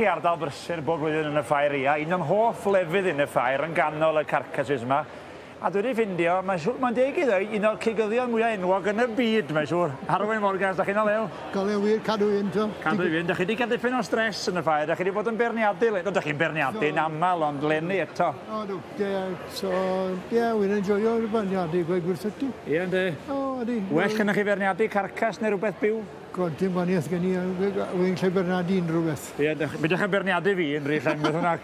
i ardal brysur bob blwyddyn yn y ffair ia, un o'n hoff lefydd i yn y ffair yn ganol y carcasses ma, a dwi di ffindio, mae'n siŵr, mae'n deg i ddweud, un o'r cigyddion mwya enwog yn y byd mae'n siŵr. Arwyn Morgans, da chi'n o lew? Go lew wir, cadw i fynd t'o. Cadw i fynd, da chi di cael dipyn o stress yn y ffair, da chi di bod yn beirniadu le- no da chi'n beirniadu'n amal ond leni eto. O do, ie, so ie wi'n enjoio'r beirniadu gweud gwir tho ti. Ie yndi. O ydi. Well gynnoch chi feirniadu carcass neu rwbeth byw? God, dim gwanieth gen i, wy'n lle berniadu unrhyw beth. Ie, mi dych chi'n berniadu fi yn rhy llenwyd hwnna.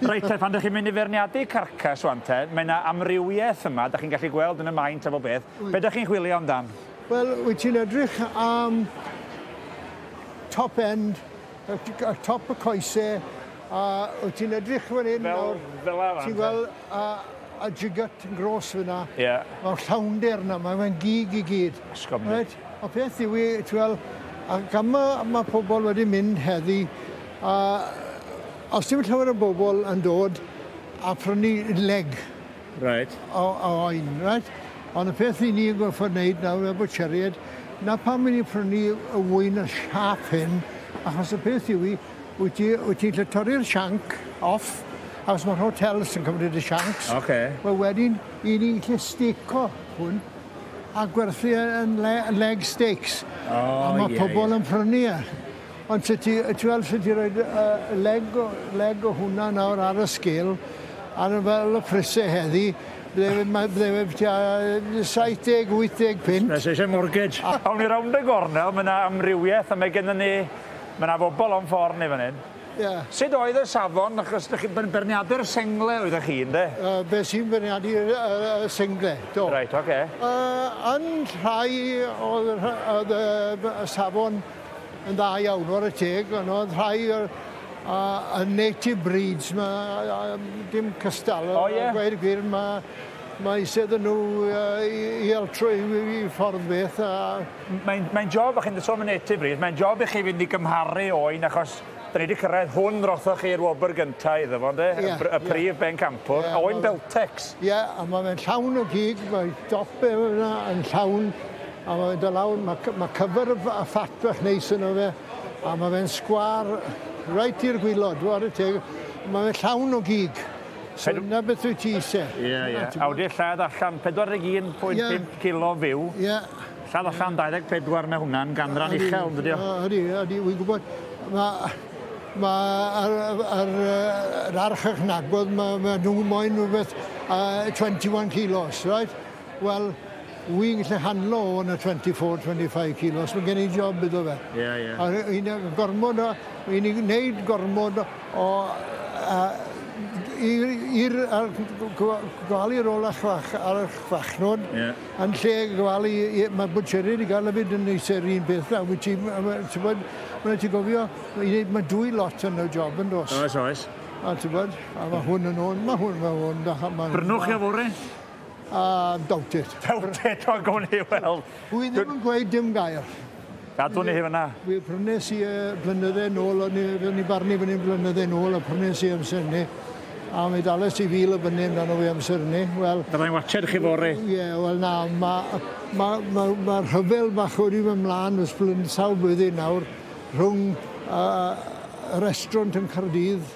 Reit te, pan dych chi'n mynd i ferniadu carcas wan te, mae yna amrywiaeth yma, dych chi'n gallu gweld yn y maint a bob beth. Be dych chi'n chwilio amdan? Wel, wyt ti'n edrych am top end, top y coese, a wyt ti'n edrych fan hyn nawr, ti'n gweld a, a jigat yn gros fyna, yeah. mae'r llawnder yna, mae'n gig i gyd. Ysgob right? Y peth yw i, ti wel', a gan ma' ma' pobol wedi mynd heddi, a os dim llawer o bobol yn dod a prynu leg... Reit. ...o o oen, reit? Ond y peth 'yn ni yn gorffod neud nawr fel bwtsieriaid, 'na pam 'yn ni'n prynu y ŵyn y siâp hyn, achos y peth yw 'i, wyt ti wyt ti'n gallu torri'r sianc off, achos ma'r hotels yn cymryd y siancs... Oce. ...wel wedyn, 'yn ni'n gallu stêco hwn. a gwerthu e yn le- yn leg steaks. O, a mae ie, pobl ie. yn prynu e. Ond ti, ti, ti weld sut i roi uh, leg, o, leg o hwnna nawr ar y sgil, ar y fel y prisau heddi, bydde fe, mae- bydde fe byti a 70, 80 pint. Nes eisiau mortgage. Awn ni rownd y gornel, mae yna amrywiaeth a mae gennym ni... Mae yna fobl o'n ffordd ni fan hyn. Ie. Sud oedd y safon achos dych chi byn- beirniadu'r sengle oeddech chi ynde? Yy be' sy'n beirniadu yr yy y sengle do. Reit oce. Yy yn rhai o'dd y rhy- o'dd y b- y safon yn dda iawn ware teg on' o'dd rhai o'r yy y native breeds 'ma yy a yym dim cystal O ie? a gweud y gwir ma' ma' isie iddyn nw yy i i altroi i i ffordd beth a Mae'n, mae'n job, a chi'n sôn am y Native Breed, mae'n job i chi fynd i gymharu o un, achos da ni wedi cyrraedd hwn rothoch chi i'r wobr gyntaf iddo fo, ynde? Ie. Y, y prif yeah. bencampwr, yeah, a oen Beltex. Ie, yeah, a mae fe'n llawn o gig, mae dope yna yn llawn, a mae fe'n dod lawr, mae, mae cyfer y ffat bach neis yno fe, a mae fe'n sgwar reit i'r gwylod, dwi'n y teg, mae fe'n llawn o gig. So Pedw... na beth wyt ti eisiau. Ie, ie. Awdur lladd allan, 41.5 yeah. kilo fyw. Ie. Yeah. Lladd allan 24, mae hwnna'n ganran uchel, yn dydio? Ydy, ydy, wy'n gwybod. Mae ma ar, ar, ar arch eich nagwedd, mae ma nhw moyn rhywbeth uh, 21 kilos, right? Wel, wy'n gallu handlo o yna 24, 25 kilos, mae gen i job iddo fe. Ie, yeah, ie. Yeah. A un gormod o, un i'n gwneud gormod o, i'r, gofalu ar ôl eich fach, ar eich fachnod, yeah. Yn lle gofalu i i ma' bwtsieriaid i ga'l efyd yn neis yr un peth nawr wyt ti ma' ma' t'wbod ma' raid ti gofio i neud ma' dwy lot yn y job yndos? Oes oes. A t'wbod a ma' hwn yn hwn ma' hwn ma' hwn da ma' hwn... Brynwch chi o fore? Ah doubt it. Doubt it wel gown ni weld. Wi ddim yn gweud dim gair. Gadwn ni hi fyna. Wel, prynes i e blynydde nôl, o'n i'n barnu fan hyn blynydde nôl, a prynes i amser ni. A mi dales ti fil o fyny amdano fi amser ni. Wel... Byddai'n watsed chi fore. Ie, yeah, wel na, mae ma, ma, ma rhyfel bach wedi fy mlaen ys blyn sawl blwyddyn nawr rhwng uh, y restaurant yn Cardydd